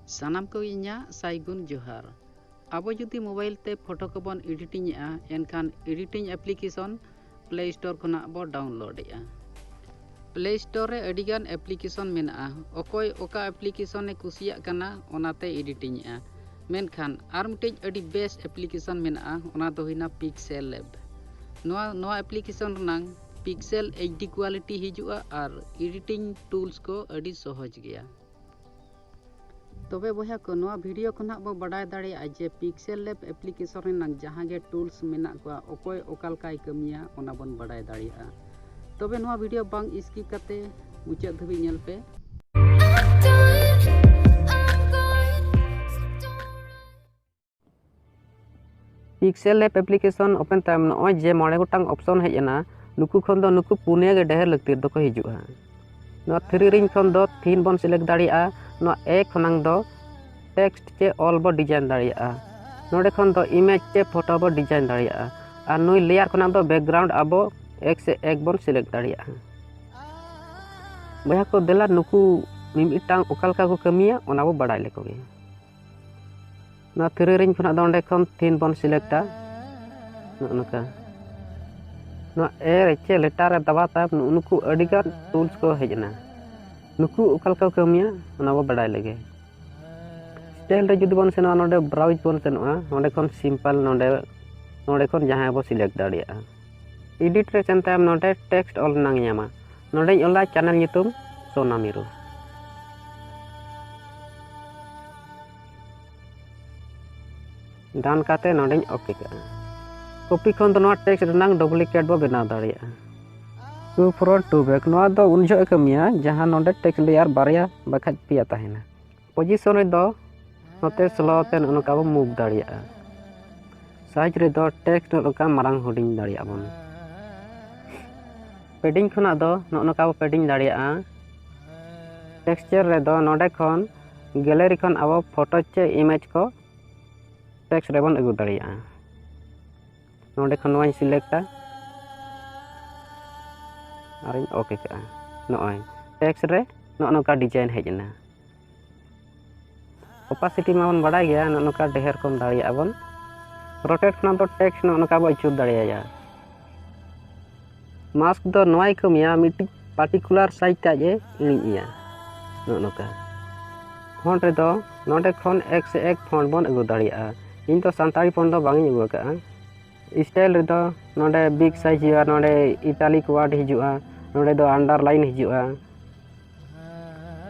ᱥᱟᱱᱟᱢ ᱠᱚ ᱤᱧᱟᱹᱜ ᱥᱟᱭᱜᱩᱱ ᱡᱚᱦᱟᱨ ᱟᱵᱚ ᱡᱩᱫᱤ ᱢᱳᱵᱟᱭᱤᱞ ᱛᱮ ᱯᱷᱳᱴᱳ ᱠᱚᱵᱚᱱ ᱮᱰᱤᱴᱤᱝ ᱮᱫᱼᱟ ᱮᱱᱠᱷᱟᱱ ᱮᱰᱤᱴᱤᱝ ᱮᱯᱞᱤᱠᱮᱥᱚᱱ ᱯᱞᱮ ᱥᱴᱳᱨ ᱠᱷᱚᱱᱟᱜ ᱵᱚ ᱰᱟᱣᱩᱱᱞᱳᱰ ᱮᱫᱼᱟ ᱯᱞᱮ ᱥᱴᱳᱨ ᱨᱮ ᱟᱹᱰᱤᱜᱟᱱ ᱮᱯᱞᱤᱠᱮᱥᱚᱱ ᱢᱮᱱᱟᱜᱼᱟ ᱚᱠᱚᱭ ᱚᱠᱟ ᱮᱯᱞᱤᱠᱮᱥᱚᱱᱮ ᱠᱩᱥᱤᱭᱟᱜ ᱠᱟᱱᱟ ᱚᱱᱟᱛᱮ ᱮᱰᱤᱴᱤᱝ ᱮᱫᱼᱟ ᱢᱮᱱᱠᱷᱟᱱ ᱟᱨ ᱢᱤᱫᱴᱮᱡ ᱟᱹᱰᱤ ᱵᱮᱥ ᱮᱯᱞᱤᱠᱮᱥᱚᱱ ᱢᱮᱱᱟᱜᱼᱟ ᱚᱱᱟ ᱫᱚ ᱦᱩᱭᱱᱟ ᱯᱤᱠᱥᱮᱞ ᱞᱮᱵ ᱱᱚᱣᱟ ᱱᱚᱣᱟ ᱮᱯᱞᱤᱠᱮᱥᱚᱱ ᱨᱮᱱᱟᱝ ᱯᱤᱠᱥᱮᱞ ᱮᱭᱤᱪ ᱰᱤ ᱠᱳᱣᱟᱞᱤᱴᱤ ᱦᱤᱡᱩᱜᱼᱟ ᱟᱨ ᱮᱰᱤᱴᱤᱝ ᱴᱩᱞᱥ ᱠᱚ ᱟᱹᱰᱤ ᱥᱚᱦᱚᱡᱽ ᱜᱮᱭᱟ ᱛᱚᱵᱮ ᱵᱚᱭᱦᱟ ᱠᱚ ᱱᱚᱣᱟ ᱵᱷᱤᱰᱤᱭᱳ ᱠᱷᱚᱱ ᱦᱟᱸᱜ ᱵᱚ ᱵᱟᱰᱟᱭ ᱫᱟᱲᱮᱭᱟᱜᱼᱟ ᱡᱮ ᱯᱤᱠᱥᱮᱞ ᱞᱮᱵ ᱮᱯᱞᱤᱠᱮᱥᱚᱱ ᱨᱮᱱᱟᱜ ᱡᱟᱦᱟᱸ ᱜᱮ ᱴᱩᱞᱥ ᱢᱮᱱᱟᱜ ᱠᱚᱣᱟ ᱚᱠᱚᱭ ᱚᱠᱟ ᱞᱮᱠᱟᱭ ᱠᱟᱹᱢᱤᱭᱟ ᱚᱱᱟ ᱵᱚᱱ ᱵᱟᱰᱟᱭ ᱫᱟᱲᱮᱭᱟᱜᱼᱟ ᱛᱚᱵᱮ ᱱᱚᱣᱟ ᱵᱷᱤᱰᱤᱭᱳ ᱵᱟᱝ ᱥᱠᱤᱯ ᱠᱟᱛᱮ ᱢᱩᱪᱟᱹᱫ ᱫᱷᱟᱹᱵᱤᱡ ᱧᱮᱞ ᱯᱮ ᱯᱤᱠᱥᱮᱞ ᱞᱮᱯ ᱮᱯᱞᱤᱠᱮᱥᱚᱱ ᱳᱯᱮᱱ ᱛᱟᱭᱚᱢ ᱱᱚᱜᱼᱚᱭ ᱡᱮ ᱢᱚᱬᱮ ᱜᱚᱴᱟᱝ ᱚᱯᱥᱚᱱ ᱦᱮᱡ ᱮᱱᱟ ᱱᱩᱠᱩ ᱠᱷᱚᱱ ᱫᱚ ᱱᱩᱠᱩ ᱯᱩᱱᱭᱟᱹ ᱜᱮ ᱰᱷᱮᱨ ᱞᱟᱹᱠᱛᱤ ᱫᱚᱠᱚ ᱦᱤᱡᱩᱜᱼᱟ ᱱᱚᱣᱟ ᱛᱷᱨᱤ ᱨᱤᱝ ᱠᱷᱚᱱ ᱫᱚ ᱛᱷᱤᱱ ᱵᱚᱱ ᱥᱤᱞᱮᱠᱴ ᱫᱟᱲᱮᱭᱟᱜᱼᱟ ᱱᱚᱣᱟ ᱮ ᱠᱷᱚᱱᱟᱝ ᱫᱚ ᱴᱮᱠᱥᱴ ᱪᱮ ᱚᱞ ᱵᱚ ᱰᱤᱡᱟᱭᱤᱱ ᱫᱟᱲᱮᱭᱟᱜᱼᱟ ᱱᱚᱰᱮ ᱠᱷᱚᱱ ᱫᱚ ᱤᱢᱮᱡᱽ ᱪᱮ ᱯᱷᱳᱴᱳ ᱵᱚ ᱰᱤᱡᱟᱭᱤᱱ ᱫᱟᱲᱮᱭᱟᱜᱼᱟ ᱟᱨ ᱱᱩᱭ ᱞᱮᱭᱟᱨ ᱠᱷᱚᱱᱟᱝ ᱫᱚ ᱵᱮᱠᱜᱨᱟᱣᱩᱱᱰ ᱟᱵᱚ ᱮᱠ ᱥᱮ ᱮᱠ ᱵᱚᱱ ᱥᱤᱞᱮᱠᱴ ᱫᱟᱲᱮᱭᱟᱜᱼᱟ ᱵᱚᱭᱦᱟ ᱠᱚ ᱫᱮᱞᱟ ᱱᱩᱠᱩ ᱢᱤᱢᱤᱫᱴᱟᱝ ᱚᱠᱟ ᱞᱮᱠᱟ ᱠᱚ ᱠᱟᱹᱢᱤᱭᱟ ᱚᱱᱟ ᱵᱚ ᱵᱟᱲᱟᱭ ᱞᱮᱠᱚ ᱜᱮ ᱱᱚᱣᱟ ᱛᱤᱨᱤ ᱨᱤᱝ ᱠᱷᱚᱱᱟᱜ ᱫᱚ ᱚᱸᱰᱮ ᱠᱷᱚᱱ ᱛᱤᱱ ᱵᱚᱱ ᱥᱤᱞᱮᱠᱴᱟ ᱱᱚᱜᱼᱚ ᱱᱚᱝᱠᱟ ᱱᱚᱣᱟ ᱮ ᱮᱪᱮ ᱞᱮᱴᱟᱨ ᱨᱮ ᱫᱟᱵᱟ ᱛᱟᱭᱚᱢ ᱱᱩᱜᱼᱩ ᱱᱩᱠᱩ ᱟᱹᱰᱤᱜᱟᱱ ᱴᱩᱞᱥ ᱠᱚ ᱦᱮᱡ ᱮᱱᱟ ᱱᱩᱠᱩ ᱚᱠᱟ ᱞᱮᱠᱟ ᱠᱚ ᱠᱟᱹᱢᱤᱭᱟ ᱚᱱᱟ ᱵᱚ ᱵᱟᱰᱟᱭ ᱞᱮᱜᱮ ᱥᱴᱟᱭᱤᱞ ᱨᱮ ᱡᱩᱫᱤ ᱵᱚᱱ ᱥᱮᱱᱚᱜᱼᱟ ᱱᱚᱰᱮ ᱵᱨᱟᱣᱩᱡᱽ ᱵᱚᱱ ᱥᱮᱱᱚᱜᱼᱟ ᱱᱚᱰᱮ ᱠᱷᱚᱱ ᱥᱤᱢᱯᱟᱞ ᱱᱚᱰᱮ ᱱᱚᱰᱮ ᱠᱷᱚᱱ ᱡᱟᱦᱟᱸᱭ ᱵᱚ ᱥᱤᱞᱮᱠᱴ ᱫᱟᱲᱮᱭᱟᱜᱼᱟ ᱮᱰᱤᱴ ᱨᱮ ᱥᱮᱱ ᱛᱟᱭᱚᱢ ᱱᱚᱰᱮ ᱴᱮᱠᱥᱴ ᱚᱞ ᱨᱮᱱᱟᱝ ᱧᱟᱢᱟ ᱱᱚᱰᱮᱧ ᱚᱞᱟ ᱪᱮᱱᱮᱞ ᱧᱩᱛᱩᱢ ᱥᱳᱱᱟ ᱢᱤᱨᱩ ᱰᱟᱱ ᱠᱟᱛᱮ ᱱᱚᱰᱮᱧ ᱚᱯᱤ ᱠᱟᱜᱼᱟ ᱠᱚᱯᱤ ᱠᱷᱚᱱ ᱫᱚ ᱱᱚᱣᱟ ᱴᱮᱠᱥᱴ ᱨᱮᱱᱟᱝ ᱰᱩᱯᱞᱤᱠᱮᱴ ᱵᱚ ᱵᱮᱱᱟᱣ ᱫᱟᱲᱮᱭᱟᱜᱼᱟ ᱴᱩ ᱯᱷᱨᱚᱱᱴ ᱴᱩ ᱵᱮᱠ ᱱᱚᱣᱟ ᱫᱚ ᱩᱱ ᱡᱚᱦᱚᱜ ᱠᱟᱹᱢᱤᱭᱟ ᱡᱟᱦᱟᱸ ᱱᱚᱰᱮ ᱴᱮᱠᱥᱴ ᱞᱮᱭᱟᱨ ᱵᱟᱨᱭᱟ ᱵᱟᱠᱷᱟᱡ ᱯᱮᱭᱟ ᱛᱟᱦᱮᱱᱟ ᱯᱚᱡᱤᱥᱚᱱ ᱨᱮᱫᱚ ᱱᱚᱛᱮ ᱥᱞᱳ ᱛᱮ ᱱᱚᱜᱼᱚ ᱱᱚᱝᱠᱟ ᱵᱚᱱ ᱢᱩᱵᱷ ᱫᱟᱲᱮᱭᱟᱜᱼᱟ ᱥᱟᱭᱤᱡᱽ ᱨᱮᱫᱚ ᱴᱮᱠᱥᱴ ᱱᱚᱜᱼᱚ ᱱᱚᱝᱠᱟ ᱢᱟᱨᱟᱝ ᱦᱩᱰᱤᱧ ᱫᱟᱲᱮᱭᱟᱜ ᱵᱚᱱ ᱯᱮᱰᱤᱝ ᱠᱷᱚᱱᱟᱜ ᱫᱚ ᱱᱚᱜᱼᱚ ᱱᱚᱝᱠᱟ ᱵᱚ ᱯᱮᱰᱤᱝ ᱫᱟᱲᱮᱭᱟᱜᱼᱟ ᱴᱮᱠᱥᱪᱟᱨ ᱨᱮᱫᱚ ᱱᱚᱰᱮ ᱠᱷᱚᱱ ᱜᱮᱞᱟᱨᱤ ᱠᱷᱚᱱ ᱟᱵᱚ ᱯᱷᱳᱴᱳ ᱪᱮ ᱤᱢᱮᱡᱽ ᱠᱚ ᱴᱮᱠᱥᱴ ᱨᱮᱵᱚᱱ ᱟᱹᱜᱩ ᱫᱟᱲᱮᱭᱟᱜᱼᱟ ᱱᱚᱰᱮ ᱠᱷᱚᱱ ᱱᱚᱣᱟᱧ ᱥᱤᱞᱮᱠᱴᱟ ᱟᱨᱤᱧ ᱳᱠᱮ ᱠᱟᱜᱼᱟ ᱱᱚᱜᱼᱚᱭ ᱴᱮᱠᱥ ᱨᱮ ᱱᱚᱜᱼᱚ ᱱᱚᱝᱠᱟ ᱰᱤᱡᱟᱭᱤᱱ ᱦᱮᱡ ᱮᱱᱟ ᱚᱯᱟᱥᱤᱴᱤ ᱢᱟᱵᱚᱱ ᱵᱟᱲᱟᱭ ᱜᱮᱭᱟ ᱱᱚᱜᱼᱚ ᱱᱚᱝᱠᱟ ᱰᱷᱮᱨ ᱠᱚᱢ ᱫᱟᱲᱮᱭᱟᱜᱼᱟ ᱵᱚᱱ ᱨᱚᱴᱮᱴ ᱠᱷᱚᱱᱟᱜ ᱫᱚ ᱴᱮᱠᱥ ᱱᱚᱜᱼᱚ ᱱᱚᱝᱠᱟ ᱵᱚᱱ ᱟᱹᱪᱩᱨ ᱫᱟᱲᱮᱭᱟᱭᱟ ᱢᱟᱥᱠ ᱫᱚ ᱱᱚᱣᱟᱭ ᱠᱟᱹᱢᱤᱭᱟ ᱢᱤᱫᱴᱤᱡ ᱯᱟᱨᱴᱤᱠᱩᱞᱟᱨ ᱥᱟᱭᱤᱡᱽ ᱛᱮ ᱟᱡ ᱮ ᱤᱬᱤᱡ ᱮᱭᱟ ᱱᱚᱜᱼᱚ ᱱᱚᱝᱠᱟ ᱯᱷᱚᱱᱴ ᱨᱮᱫᱚ ᱱᱚᱰᱮ ᱠᱷᱚᱱ ᱮᱠ ᱥᱮ ᱮᱠ ᱯᱷᱚᱱᱴ ᱵᱚᱱ ᱟᱹᱜᱩ ᱫᱟᱲᱮᱭᱟᱜᱼᱟ ᱤᱧ ᱫᱚ ᱥᱟᱱᱛᱟᱲᱤ ᱯᱷᱚᱱᱴ ᱫᱚ ᱵᱟᱝ ᱤᱧ ᱟᱹᱜᱩ ᱟᱠᱟᱫᱼᱟ ᱥᱴᱟᱭᱤᱞ ᱨᱮᱫᱚ ᱱᱚᱰᱮ ᱵᱤᱜᱽ ᱥᱟᱭᱤᱡᱽ ᱦᱩᱭᱩᱜᱼᱟ ᱱᱚᱰᱮ ᱤᱴᱟᱞᱤᱠ ᱳᱣᱟᱨᱰ ᱦᱤᱡᱩᱜᱼᱟ ᱱᱚᱰᱮ ᱫᱚ ᱟᱱᱰᱟᱨᱞᱟᱭᱤᱱ ᱦᱤᱡᱩᱜᱼᱟ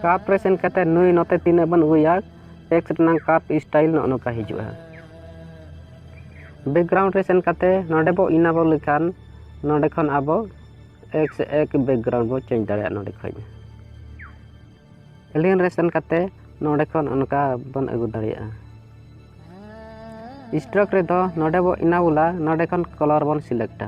ᱠᱟᱯ ᱨᱮ ᱥᱮᱱ ᱠᱟᱛᱮ ᱱᱩᱭ ᱱᱚᱛᱮ ᱛᱤᱱᱟᱹᱜ ᱵᱚᱱ ᱩᱭᱟ ᱮᱠᱥ ᱨᱮᱱᱟᱜ ᱠᱟᱯ ᱥᱴᱟᱭᱤᱞ ᱱᱚᱜᱼᱚ ᱱᱚᱝᱠᱟ ᱦᱤᱡᱩᱜᱼᱟ ᱵᱮᱠᱜᱨᱟᱣᱩᱱᱰ ᱨᱮ ᱥᱮᱱ ᱠᱟᱛᱮ ᱱᱚᱰᱮ ᱵᱚ ᱤᱱᱟᱵᱚ ᱞᱮᱠᱷᱟᱱ ᱱᱚᱰᱮ ᱠᱷᱚᱱ ᱟᱵᱚ ᱮᱠᱥ ᱮᱠ ᱵᱮᱠᱜᱨᱟᱣᱩᱱᱰ ᱵᱚ ᱪᱮᱧᱡᱽ ᱫᱟᱲᱮᱭᱟᱜᱼᱟ ᱱᱚᱰᱮ ᱠᱷᱚᱱ ᱮᱞᱤᱭᱟᱱ ᱨᱮ ᱥᱮᱱ ᱠᱟᱛᱮ ᱱᱚᱰᱮ ᱠᱷᱚᱱ ᱚᱱᱠᱟ ᱵᱚᱱ ᱟᱹᱜᱩ ᱫᱟᱲᱮᱭᱟᱜᱼᱟ ᱥᱴᱨᱚᱠ ᱨᱮᱫᱚ ᱱᱚᱰᱮ ᱵᱚ ᱤᱱᱟᱵᱚᱞᱟ ᱱᱚᱰᱮ ᱠᱷᱚᱱ ᱠᱚᱞᱚᱨ ᱵᱚᱱ ᱥᱤᱞᱮᱠᱴᱟ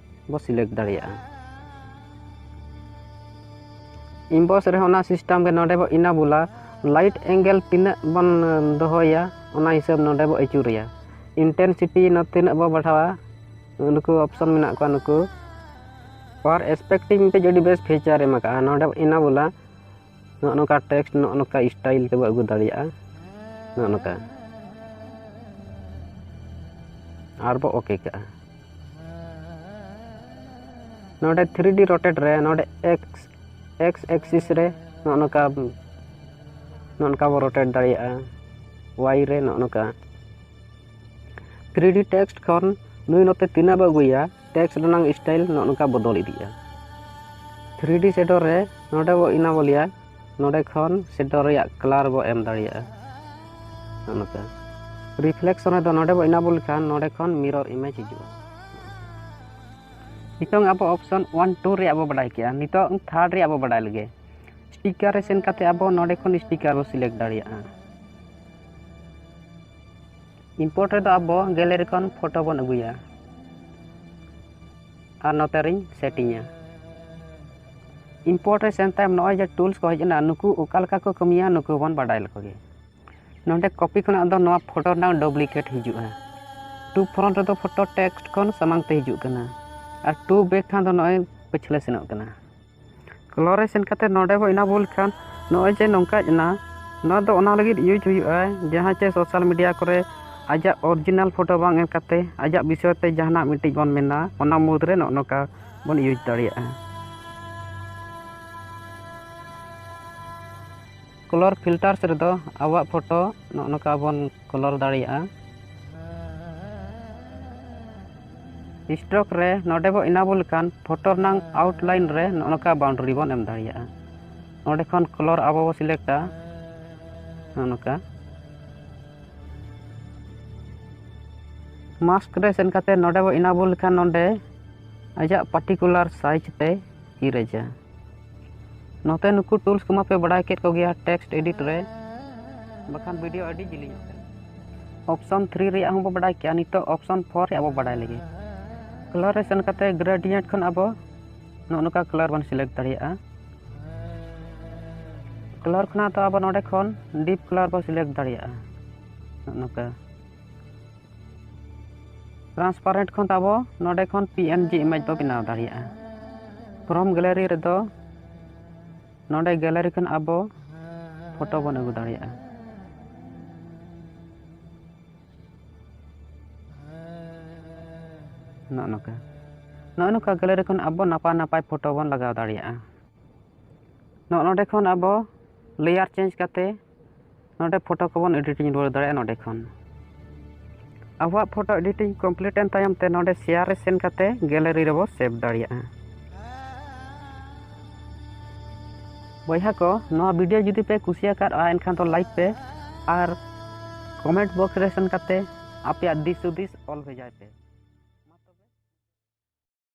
ᱵᱚ ᱥᱤᱞᱮᱠᱴ ᱫᱟᱲᱮᱭᱟᱜᱼᱟ ᱤᱢᱵᱚᱥ ᱨᱮᱦᱚᱸ ᱚᱱᱟ ᱥᱤᱥᱴᱮᱢ ᱜᱮ ᱱᱚᱰᱮ ᱵᱚ ᱤᱱᱟᱵᱩᱞᱟ ᱞᱟᱭᱤᱴ ᱮᱝᱜᱮᱞ ᱛᱤᱱᱟᱹᱜ ᱵᱚᱱ ᱫᱚᱦᱚᱭᱟ ᱚᱱᱟ ᱦᱤᱥᱟᱹᱵ ᱱᱚᱰᱮ ᱵᱚ ᱟᱹᱪᱩᱨᱮᱭᱟ ᱤᱱᱴᱮᱱᱥᱤᱴᱤ ᱛᱤᱱᱟᱹᱜ ᱵᱚ ᱵᱟᱲᱦᱟᱣᱟ ᱱᱩᱠᱩ ᱚᱯᱥᱚᱱ ᱢᱮᱱᱟᱜ ᱠᱚᱣᱟ ᱱᱩᱠᱩ ᱯᱟᱨ ᱮᱥᱯᱮᱠᱴᱤᱝ ᱢᱤᱫᱴᱮᱡ ᱟᱹᱰᱤ ᱵᱮᱥ ᱯᱷᱤᱪᱟᱨ ᱮᱢ ᱟᱠᱟᱫᱼᱟ ᱱᱚᱰᱮ ᱤᱱᱟᱵᱩᱞᱟ ᱱᱚᱜᱼᱚ ᱱᱚᱝᱠᱟ ᱴᱮᱠᱥᱴ ᱱᱚᱜᱼᱚ ᱱᱚᱝᱠᱟ ᱥᱴᱟᱭᱤᱞ ᱛᱮᱵᱚ ᱟᱹᱜᱩ ᱫᱟᱲᱮᱭᱟᱜᱼᱟ ᱱᱚᱜᱼᱚ ᱱᱚᱝᱠᱟ ᱟᱨ ᱵᱚ ᱳᱠᱮ ᱠᱟᱜᱼᱟ ᱱᱚᱰᱮ ᱛᱷᱨᱤ ᱰᱤ ᱨᱚᱴᱮᱴ ᱨᱮ ᱱᱚᱰᱮ ᱮᱠᱥ ᱮᱠᱥ ᱮᱠᱥᱤᱥ ᱨᱮ ᱱᱚᱜᱼᱚ ᱱᱚᱝᱠᱟ ᱱᱚᱜᱼᱚ ᱱᱚᱝᱠᱟ ᱵᱚ ᱨᱚᱴᱮᱴ ᱫᱟᱲᱮᱭᱟᱜᱼᱟ ᱳᱣᱟᱭ ᱨᱮ ᱱᱚᱜᱼᱚ ᱱᱚᱝᱠᱟ ᱛᱷᱨᱤ ᱰᱤ ᱴᱮᱠᱥᱴ ᱠᱷᱚᱱ ᱱᱩᱭ ᱱᱚᱛᱮ ᱛᱤᱱᱟᱹᱜ ᱵᱚ ᱟᱹᱜᱩᱭᱟ ᱴᱮᱠᱥᱴ ᱨᱮᱱᱟᱝ ᱥᱴᱟᱭᱤᱞ ᱱᱚᱜᱼᱚ ᱱᱚᱝᱠᱟ ᱵᱚᱫᱚᱞ ᱤᱫᱤᱜᱼᱟ ᱛᱷᱨᱤ ᱰᱤ ᱥᱮᱰᱚᱨ ᱨᱮ ᱱᱚᱰᱮ ᱵᱚ ᱮᱱᱟᱵᱚᱞᱮᱭᱟ ᱱᱚᱰᱮ ᱠᱷᱚᱱ ᱥᱮᱰᱚ ᱨᱮᱭᱟᱜ ᱠᱟᱞᱟᱨ ᱵᱚ ᱮᱢ ᱫᱟᱲᱮᱭᱟᱜᱼᱟ ᱱᱚᱛᱮ ᱨᱤᱯᱷᱞᱮᱠᱥᱚᱱ ᱨᱮᱫᱚ ᱱᱚᱰᱮ ᱵᱚ ᱤᱱᱟᱵᱚᱞ ᱞᱮᱠᱷᱟᱱ ᱱᱚᱰᱮ ᱠᱷᱚᱱ ᱢᱤᱨᱚᱨ ᱤᱢᱮᱡᱽ ᱦᱤᱡᱩᱜᱼᱟ ᱱᱤᱛᱚᱝ ᱟᱵᱚ ᱚᱯᱥᱚᱱ ᱚᱣᱟᱱ ᱴᱩ ᱨᱮᱭᱟᱜ ᱵᱚ ᱵᱟᱰᱟᱭ ᱠᱮᱜᱼᱟ ᱱᱤᱛᱚᱝ ᱛᱷᱟᱨᱰ ᱨᱮᱭᱟᱜ ᱵᱚ ᱵᱟᱰᱟᱭ ᱞᱮᱜᱮ ᱥᱴᱤᱠᱟᱨ ᱨᱮ ᱥᱮᱱ ᱠᱟᱛᱮ ᱟᱵᱚ ᱱᱚᱰᱮ ᱠᱷᱚᱱ ᱥᱴᱤᱠᱟᱨ ᱵᱚ ᱥᱤᱞᱮᱠᱴ ᱫᱟᱲᱮᱭᱟᱜᱼᱟ ᱤᱢᱯᱳᱨᱴ ᱨᱮᱫᱚ ᱟᱵᱚ ᱜᱮᱞᱟᱨᱤ ᱠᱷᱚᱱ ᱯᱷᱳᱴᱳ ᱵᱚᱱ ᱟᱹᱜᱩᱭᱟ ᱟᱨ ᱱᱚᱛᱮ ᱨᱤᱧ ᱥᱮᱴᱤᱝᱟ ᱤᱢᱯᱳᱨᱴ ᱨᱮ ᱥᱮᱱ ᱛᱟᱭᱚᱢ ᱱᱚᱜᱼᱚᱭ ᱡᱮ ᱴᱩᱞᱥ ᱠᱚ ᱦᱮᱡ ᱮᱱᱟ ᱱᱩᱠᱩ ᱚᱠᱟ ᱞᱮᱠᱟ ᱠᱚ ᱠᱟᱹᱢᱤᱭᱟ ᱱᱩᱠᱩ ᱵᱚᱱ ᱵᱟᱰᱟᱭ ᱞᱮᱠᱚ ᱜᱮ ᱱᱚᱰᱮ ᱠᱚᱯᱤ ᱠᱷᱚᱱᱟᱜ ᱫᱚ ᱱᱚᱣᱟ ᱯᱷᱳᱴᱳ ᱨᱮᱱᱟᱜ ᱰᱩᱯᱞᱤᱠᱮᱴ ᱦᱤᱡᱩᱜᱼᱟ ᱴᱩ ᱯᱷᱨᱚᱱᱴ ᱨᱮᱫᱚ ᱯᱷᱳᱴᱳ ᱴᱮᱠᱥᱴ ᱠᱷᱚᱱ ᱥᱟᱢᱟᱝ ᱛᱮ ᱦᱤᱡᱩᱜ ᱠᱟᱱᱟ ᱟᱨ ᱴᱩ ᱵᱮᱠ ᱠᱷᱟᱱ ᱫᱚ ᱱᱚᱜᱼᱚᱭ ᱯᱟᱹᱪᱷᱞᱟᱹ ᱥᱮᱱᱚᱜ ᱠᱟᱱᱟ ᱠᱞᱚ ᱨᱮ ᱥᱮᱱ ᱠᱟᱛᱮᱫ ᱱᱚᱰᱮ ᱵᱚᱱ ᱮᱱᱮᱵᱚᱞ ᱞᱮᱠᱷᱟᱱ ᱱᱚᱜᱼᱚᱸᱭ ᱡᱮ ᱱᱚᱝᱠᱟ ᱦᱮᱡ ᱮᱱᱟ ᱱᱚᱣᱟ ᱫᱚ ᱚᱱᱟ ᱞᱟᱹᱜᱤᱫ ᱤᱭᱩᱡᱽ ᱦᱩᱭᱩᱜᱼᱟ ᱡᱟᱦᱟᱸ ᱪᱮ ᱥᱳᱥᱟᱞ ᱢᱤᱰᱤᱭᱟ ᱠᱚᱨᱮ ᱟᱡᱟᱜ ᱚᱨᱤᱡᱤᱱᱟᱞ ᱯᱷᱳᱴᱳ ᱵᱟᱝ ᱮᱢ ᱠᱟᱛᱮᱫ ᱟᱡᱟᱜ ᱵᱤᱥᱚᱭ ᱛᱮ ᱡᱟᱦᱟᱱᱟᱜ ᱢᱤᱫᱴᱤᱡ ᱵᱚᱱ ᱢᱮᱱᱟ ᱚᱱᱟ ᱢᱩᱫᱽ ᱨᱮ ᱱᱚᱜᱼᱚᱸᱭ ᱱᱚᱝᱠᱟ ᱵᱚᱱ ᱤᱭᱩᱡᱽ ᱫᱟᱲᱮᱭᱟᱜᱼᱟ ᱠᱚᱞᱚᱨ ᱯᱷᱤᱞᱴᱟᱨᱥ ᱨᱮᱫᱚ ᱟᱵᱚᱣᱟᱜ ᱯᱷᱳᱴᱳ ᱱᱚᱜᱼᱚ ᱱᱚᱝᱠᱟ ᱵᱚᱱ ᱠᱚᱞᱚᱨ ᱫᱟᱲᱮᱭᱟᱜᱼᱟ ᱥᱴᱨᱳᱠ ᱨᱮ ᱱᱚᱰᱮ ᱵᱚ ᱮᱱᱟᱵᱚᱞ ᱞᱮᱠᱷᱟᱱ ᱯᱷᱳᱴᱳ ᱨᱮᱱᱟᱝ ᱟᱣᱩᱴᱞᱟᱭᱤᱱ ᱨᱮ ᱱᱚᱜᱼᱚ ᱱᱚᱝᱠᱟ ᱵᱟᱣᱩᱱᱰᱟᱨᱤ ᱵᱚᱱ ᱮᱢ ᱫᱟᱲᱮᱭᱟᱜᱼᱟ ᱱᱚᱰᱮ ᱠᱷᱚᱱ ᱠᱚᱞᱚᱨ ᱟᱵᱚ ᱵᱚ ᱥᱤᱞᱮᱠᱴᱟ ᱱᱚᱜᱼᱚ ᱱᱚᱝᱠᱟ ᱢᱟᱥᱠ ᱨᱮ ᱥᱮᱱ ᱠᱟᱛᱮ ᱱᱚᱰᱮ ᱵᱚ ᱮᱱᱟᱵᱚᱞ ᱞᱮᱠᱷᱟᱱ ᱱᱚᱰᱮ ᱟᱡᱟᱜ ᱯᱟᱨᱴᱤᱠᱩᱞᱟᱨ ᱥᱟᱭᱤᱡᱽ ᱛᱮ ᱤᱨᱮᱡᱟ ᱱᱚᱛᱮ ᱱᱩᱠᱩ ᱴᱩᱞᱥ ᱠᱚᱢᱟ ᱯᱮ ᱵᱟᱰᱟᱭ ᱠᱮᱫ ᱠᱚᱜᱮᱭᱟ ᱴᱮᱠᱥᱴ ᱮᱰᱤᱴ ᱨᱮ ᱵᱟᱠᱷᱟᱱ ᱵᱷᱤᱰᱤᱭᱳ ᱟᱹᱰᱤ ᱡᱤᱞᱤᱧᱚᱜ ᱠᱟᱱᱟ ᱚᱯᱥᱚᱱ ᱛᱷᱨᱤ ᱨᱮᱭᱟᱜ ᱦᱚᱸᱵᱚ ᱵᱟᱰᱟᱭ ᱠᱮᱜᱼᱟ ᱱᱤᱛᱚᱜ ᱚᱯᱥᱚᱱ ᱯᱷᱳᱨ ᱨᱮᱭᱟᱜ ᱵᱚ ᱵᱟᱰᱟᱭ ᱞᱮᱜᱮ ᱠᱟᱞᱟᱨ ᱨᱮ ᱥᱮᱱ ᱠᱟᱛᱮ ᱜᱨᱮᱰᱤᱭᱮᱱᱴ ᱠᱷᱚᱱ ᱟᱵᱚ ᱱᱚᱜᱼᱚ ᱱᱚᱝᱠᱟ ᱠᱟᱞᱟᱨ ᱵᱚᱱ ᱥᱤᱞᱮᱠᱴ ᱫᱟᱲᱮᱭᱟᱜᱼᱟ ᱠᱟᱞᱟᱨ ᱠᱷᱚᱱᱟᱜ ᱫᱚ ᱟᱵᱚ ᱱᱚᱰᱮ ᱠᱷᱚᱱ ᱰᱤᱯ ᱠᱟᱞᱟᱨ ᱵᱚ ᱥᱤᱞᱮᱠᱴ ᱫᱟᱲᱮᱭᱟᱜᱼᱟ ᱱᱚᱜᱼᱚ ᱱᱚᱝᱠᱟ ᱴᱨᱟᱱᱥᱯᱟᱨᱮᱱᱴ ᱠᱷᱚᱱ ᱟᱵᱚ ᱱᱚᱰᱮ ᱠᱷᱚᱱ ᱯᱤ ᱮᱱ ᱡᱤ ᱤᱢᱮᱡᱽ ᱵᱚ ᱵᱮᱱᱟᱣ ᱫᱟᱲᱮᱭᱟᱜᱼᱟ ᱯᱨᱚᱢ ᱜᱮᱞᱟᱨᱤ ᱨᱮᱫᱚ ᱱᱚᱰᱮ ᱜᱮᱞᱟᱨᱤ ᱠᱷᱚᱱ ᱟᱵᱚ ᱯᱷᱳᱴᱳ ᱵᱚᱱ ᱟᱹᱜᱩ ᱫᱟᱲᱮᱭᱟᱜᱼᱟ ᱱᱚᱜᱼᱚ ᱱᱚᱝᱠᱟ ᱱᱚᱜᱼᱚ ᱱᱚᱝᱠᱟ ᱜᱮᱞᱟᱨᱤ ᱠᱷᱚᱱ ᱟᱵᱚ ᱱᱟᱯᱟᱭ ᱱᱟᱯᱟᱭ ᱯᱷᱳᱴᱳ ᱵᱚᱱ ᱞᱟᱜᱟᱣ ᱫᱟᱲᱮᱭᱟᱜᱼᱟ ᱱᱚᱜᱼᱚ ᱱᱚᱰᱮ ᱠᱷᱚᱱ ᱟᱵᱚ ᱞᱮᱭᱟᱨ ᱪᱮᱧᱡᱽ ᱠᱟᱛᱮᱫ ᱱᱚᱰᱮ ᱯᱷᱳᱴᱳ ᱠᱚᱵᱚᱱ ᱮᱰᱤᱴᱤᱝ ᱨᱩᱣᱟᱹᱲ ᱫᱟᱲᱮᱭᱟᱜᱼᱟ ᱱᱚᱰᱮ ᱠᱷᱚᱱ ᱟᱵᱚᱣᱟᱜ ᱯᱷᱳᱴᱳ ᱮᱰᱤᱴᱤᱝ ᱠᱚᱢᱯᱞᱤᱴ ᱮᱱ ᱛᱟᱭᱚᱢ ᱛᱮ ᱱᱚᱰᱮ ᱥᱮᱭᱟᱨ ᱨᱮ ᱥᱮᱱ ᱠᱟᱛᱮ ᱜᱮᱞᱟᱨᱤ ᱨᱮᱵᱚ ᱥᱮᱵᱷ ᱫᱟᱲᱮᱭᱟᱜᱼᱟ ᱵᱚᱭᱦᱟ ᱠᱚ ᱱᱚᱣᱟ ᱵᱷᱤᱰᱤᱭᱳ ᱡᱩᱫᱤ ᱯᱮ ᱠᱩᱥᱤᱭᱟᱠᱟᱫᱼᱟ ᱮᱱᱠᱷᱟᱱ ᱫᱚ ᱞᱟᱭᱤᱠ ᱯᱮ ᱟᱨ ᱠᱚᱢᱮᱱᱴ ᱵᱚᱠᱥ ᱨᱮ ᱥᱮᱱ ᱠᱟᱛᱮ ᱟᱯᱮᱭᱟᱜ ᱫᱤᱥ ᱦᱩᱫᱤᱥ ᱚᱞ ᱵᱷᱮᱡᱟᱭ ᱯᱮ